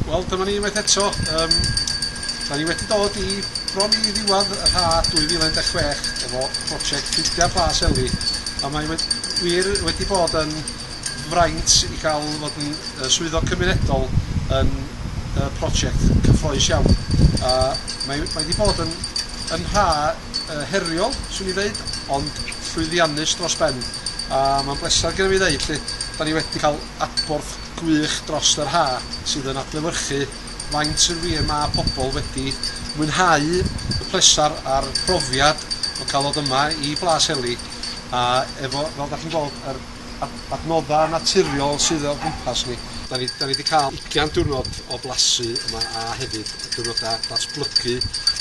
Wel, dyma ni unwaith eto. Um, da ni wedi dod i bron i ddiwedd y rha 2016 efo prosiect Ffrindiau Plas Eli, a mae wedi, wir wedi bod yn fraint i gael fod yn uh, swyddog cymunedol yn uh, prosiect cyffroes iawn. A mae, mae wedi bod yn, yn rha uh, heriol, swn i ddeud, ond llwyddiannus dros ben. A mae'n bleser gen i fi ddeud lle, da ni wedi cael adborth gwych dros yr ha' sydd yn adlewyrchu faint yn wir ma' pobl wedi mwynhau y plesar a'r profiad o cael ddod yma i Blas Heli a efo fel 'da chi'n gweld yr adnodda' naturiol sydd o gwmpas ni. 'Da ni 'da ni 'di cael ugian diwrnod o blasu yma a hefyd diwrnoda' datblygu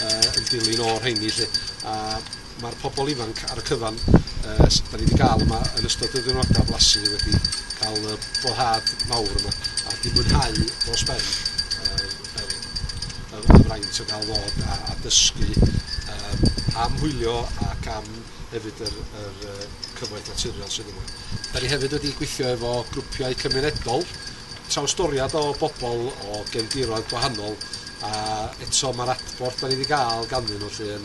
yn dilyn o'r rheini 'lly a Mae'r pobl ifanc ar y cyfan yy s- 'da ni 'di ga'l yma yn ystod y ddiwrnoda' blasu wedi ca'l y boddhad mawr yma a 'di mwynhau dros ben yr yr y y fraint o ga'l ddod a a dysgu yym am hwylio ac am hefyd yr yr yy cyfoeth naturiol sydd yma. 'Da ni hefyd wedi gweithio efo grwpiau cymunedol trawstoriad o bobl o gefndiroedd gwahanol a eto mae'r adborth dan ni wedi gael ganddyn nhw lle yn,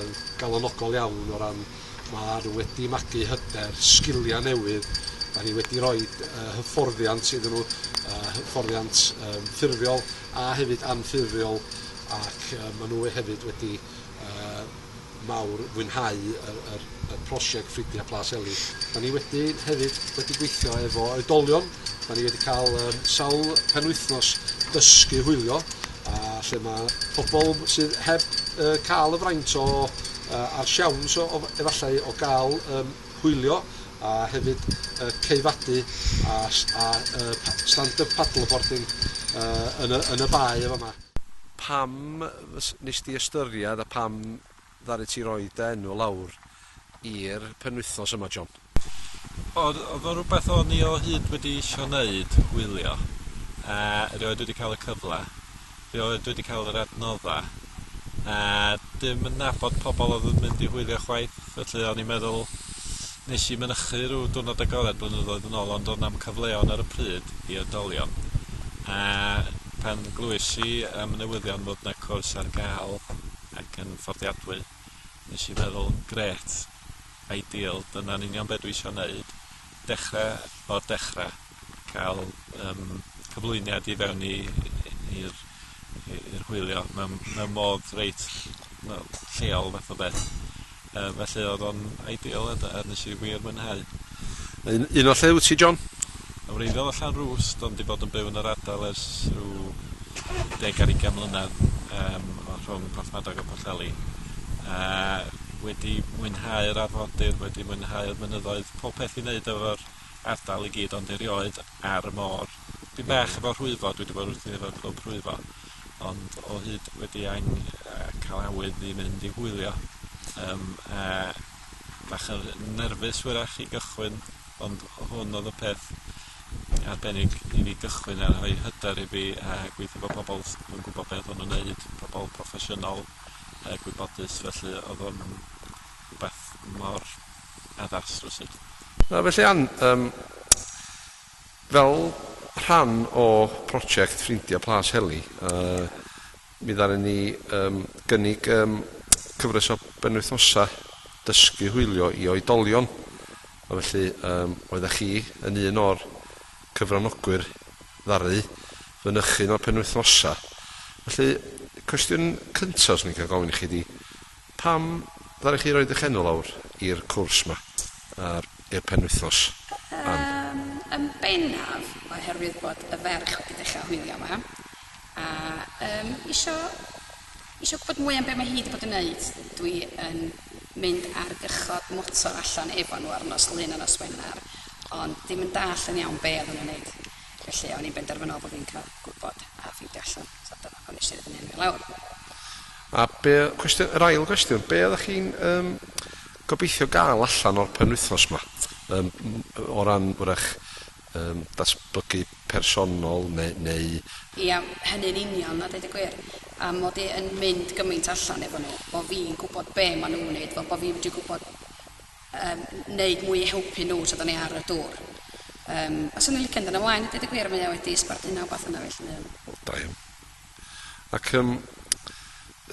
yn galonogol iawn o ran mae nhw wedi magu hyder, sgiliau newydd, da ni wedi rhoi uh, hyfforddiant iddyn nhw, uh, hyfforddiant um, ffurfiol a hefyd anffurfiol ac uh, maen nhw hefyd wedi uh, mawr fwynhau yr yr y prosiect Ffrindia Plas Eli. Da ni wedi hefyd wedi gweithio efo oedolion, da ni wedi cael yym sawl penwythnos dysgu hwylio a lle ma' pobl sydd heb yy ca'l y fraint o yy a'r siawns o o efallai o ga'l yym hwylio a hefyd yy ceifadu a s- a yy pa- stand-up paddleboarding yy yn y yn y bae yn fa' 'ma. Pam Fys- wnest ti ystyried a pam ddaru ti roi dy enw lawr i'r penwythnos yma John? O, oedd o'n rhywbeth o'n i o hyd wedi isio wneud, wylio. A rioed wedi cael y cyfle. Rioed wedi cael yr adnodda. A dim yn nabod pobl oedd yn mynd i hwylio chwaith, felly o'n i'n meddwl Nes i mynychu rhyw diwrnod agored blynyddoedd yn ôl ond o' 'na'm cyfleon ar y pryd i oedolion a pan glywais i am y newyddion fod 'na cwrs ar ga'l ac yn fforddiadwy nes i feddwl grêt, ideal, dyna'n union be' dwi isio neud, dechre o'r dechre. cael yym cyflwyniad i fewn i i'r i i'r hwylio mewn mewn modd reit fel lleol fath o beth. Yy felly odd o'n ideal a d- a nesh i wir mwynhau. A un un o lle wyt ti John? Yn wreiddiol o Llanrwst ond 'di bod yn byw yn yr ardal ers rhyw deg ar ugain mlynadd yym o rhwng Porthmadog a Pwllheli a wedi mwynhau'r arfordir wedi mwynhau'r mynyddoedd pob peth i neud efo'r ardal i gyd ond erioed ar y môr. Dipyn bach efo rhwyfo, dwi 'di bod wrthi efo grŵp rhwyfo, ond o hyd wedi ang- yy ca'l awydd i mynd i hwylio, yym a bach yn nerfus wyrach i gychwyn, ond hwn odd y peth arbennig i fi gychwyn a rhoi hyder i fi a gweithio 'fo pobol s- yn gwbo be' odd o'n neud, pobol proffesiynol a gwybodus felly odd o'n rwbath mor Addas rywsut. A felly Ann, yym, fel rhan o project Ffrindia Plas Heli, yy, mi ddaru ni, yym, gynnig, yym, cyfres o benwythnosa dysgu hwylio i oedolion. A felly, yym, oeddach chi yn un o'r cyfranogwyr ddaru fynychu un o'r penwythnosa. Felly, cwestiwn cynta 'swn i'n cael gofyn i chi 'di, Pam ddaru chi roi dych enw lawr i'r cwrs ma ar i'r penwythnos? Ann. Yym yn bennaf oherwydd bod y ferch wedi dechra hwylio yma a yym isio isio gwbod mwy am be mae hi di bod yn neud. Dwi yn mynd ar gychod motor allan efo nhw ar nos Lun a nos Wener ond dim yn dallt yn iawn be odda nhw'n neud felly o'n i'n benderfynol bo fi'n ca'l gwbod a ffeindio allan so dyna pam nes i roid fy enw i lawr. A be oedd cwestiwn, yr ail gwestiwn, be oeddech chi'n um, gobeithio gael allan o'r penwythnos yma? Um, o ran wrach um, datblygu personol neu, neu Ia, hynny'n union, a deud y gwir. A mod i yn mynd gymaint allan efo nhw, bod fi'n gwybod be maen nhw'n wneud, fel bod fi'n mynd i gwybod um, wneud mwy i helpu nhw tra da ni ar y dŵr. Um, a swn i'n licio'n dyn ymlaen, a deud y gwir, mae o wedi sbarduno wbeth yna felly. Wel, da iawn. Ac yym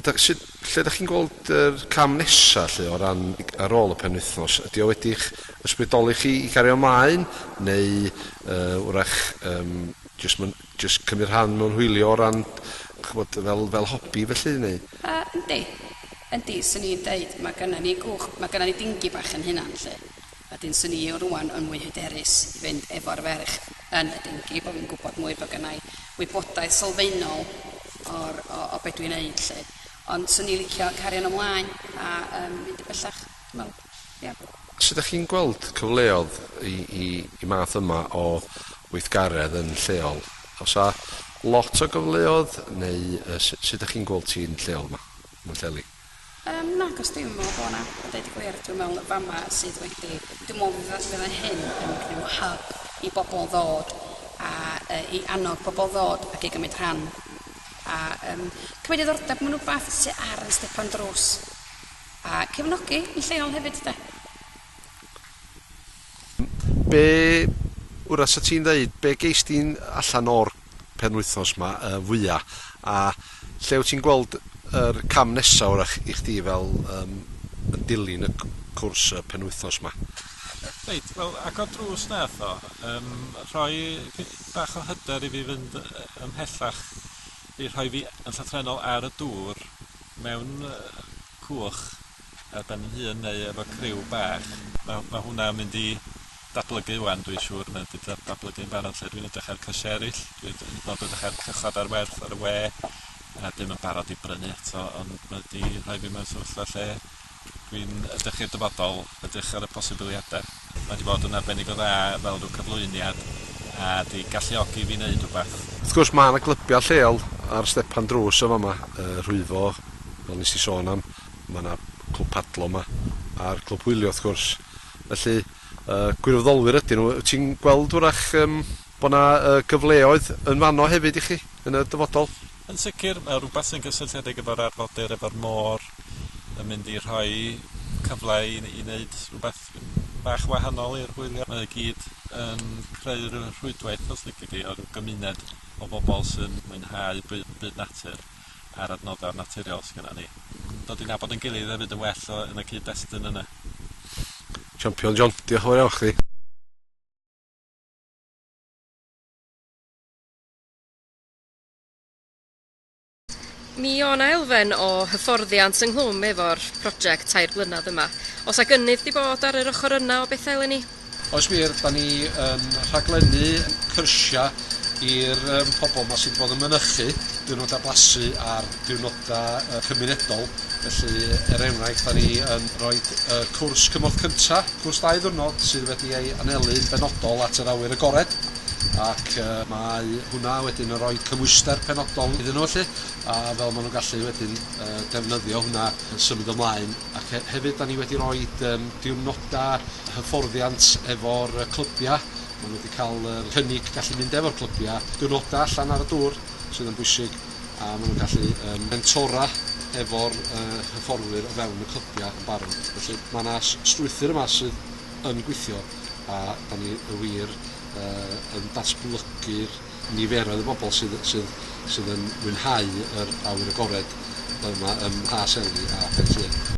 da- sut... lle dach chi'n gweld yr cam nesa 'lly o ran y- ar ôl y penwythnos? Ydy o wedi'ch ysbrydoli chi i gario mlaen neu yy 'w'rach yym jyst myn- jyst cymryd rhan mewn hwylio o ran ch'mod fel fel hobi felly neu? Yy yndi. Yndi, 'swn i'n deud ma' gynna ni gwch- ma' gynna ni dingi bach 'yn hunan 'lly. A dwi'n swnio rŵan yn mwy hyderus i fynd efo'r ferch yn y dinghy, bod fi'n gwybod mwy, bod gynna i wybodaeth sylfaenol o'r, o, o be dwi'n neud 'lly. Ond 'swn i'n licio cario 'no mlaen a yym mynd yn bellach, dwi'n meddwl. Ia. Sut dach chi'n gweld cyfleodd i i i math yma o weithgaredd yn lleol? Oes 'na lot o gyfleodd neu yy su- sut dach chi'n gweld ti'n lleol 'ma, yn Pwllheli? Yym nag oes dim o bo' 'na a deud y gwir dwi'n me'wl y fama sydd wedi dwi me'wl fydda fydda hyn yn rhyw hub i bobol ddod a yy i annog pobol ddod ac i gymyd rhan a yym cymyd diddordeb mewn wbath sy ar yn stepan drws a cefnogi yn lleol hefyd de? Be wra sa ti'n ddeud, be geis di'n allan o'r penwythnos ma yy fwya', a lle wyt ti'n gweld yr cam nesa' wrach i chdi fel yym yn dilyn y c- cwrs y penwythnos ma'? Reit, wel agor drws nath o, yym rhoi fi- bach o hyder i fi fynd yy ymhellach i rhoi fi yn llythrennol ar y dŵr mewn yy coch a 'dan ni'n hun neu efo criw bach ma' ma' hwnna yn mynd i datblygu ŵan dwi'n siŵr mae o 'di da- datblygu'n barod lle dwi'n edrych ar cysie eryll dwi'n d- hyd yn o'd edrych ar cychod ar werth ar y we a dwi'm yn barod i brynu eto ond mae o 'di rhoi fi mewn sefyllfa lle dwi'n edrych i'r dyfodol edrych ar y posibiliade. Mae 'di bod yn arbennig o dda fel rhyw cyflwyniad a 'di galluogi fi neud rwbath. Wrth gwrs mae 'na glybiau lleol ar stepan drws yn fama, yy Rhwyfo fel nes i sôn am, mae 'na Clwb Padlo 'ma a'r Clwb Hwylio wrth gwrs. Felly yy gwirfoddolwyr ydyn nhw. Wyt ti'n gweld 'w'rach yym bod 'na yy gyfleoedd yn fanno hefyd i chi yn y dyfodol? Yn sicr, mae o rwbath sy'n gysylltiedig efo'r arfordir, efo'r môr, yn mynd i rhoi cyfle i i neud rwbath bach wahanol i'r hwyliau, mae o gyd yn creu rhyw rhwydwaith os lici di o rhyw gymuned o bobl sy'n mwynhau byw'n byd natur a'r adnoddau naturiol sy gynna ni. Dod i nabod ein gilydd hefyd yn well o yn y cyd destun yna. Champion John, diolch yn fawr iawn chdi. Mi o' 'na elfen o hyfforddiant ynghlwm efo'r project tair blynadd yma. O's 'a gynnydd 'di bod ar yr ochor yna o betha eleni? Oes wir, 'dan ni yn rhaglennu cyrsia i'r yym pobol 'ma sy' 'di bod yn mynychu diwrnoda blasu a'r diwrnoda yy cymunedol felly er enghraifft 'dan ni yn roid y cwrs cymorth cynta, cwrs dau ddiwrnod sydd wedi ei anelu'n benodol at yr awyr agored. ac yy mae hwnna wedyn yn rhoi cymhwyster penodol iddyn nhw 'lly, a fel ma' nhw'n gallu wedyn yy defnyddio hwnna yn symud ymlaen, ac he- hefyd 'dan ni wedi roid yym diwrnoda hyfforddiant efo'r yy clybia, ma' nhw wedi ca'l yr cynnig gallu mynd efo'r clybia diwrnoda allan ar y dŵr, sydd yn bwysig, a ma' nhw'n gallu yym mentora efo'r yy hyfforddwyr o fewn y clybia yn barod. Felly ma' 'na s- strwythur yma sydd yn gweithio a 'dan ni y wir yy yn datblygu'r niferoedd o bobl sydd sydd sydd yn mwynhau yr awyr agored yma ym Mha Seli a Phen Llŷn.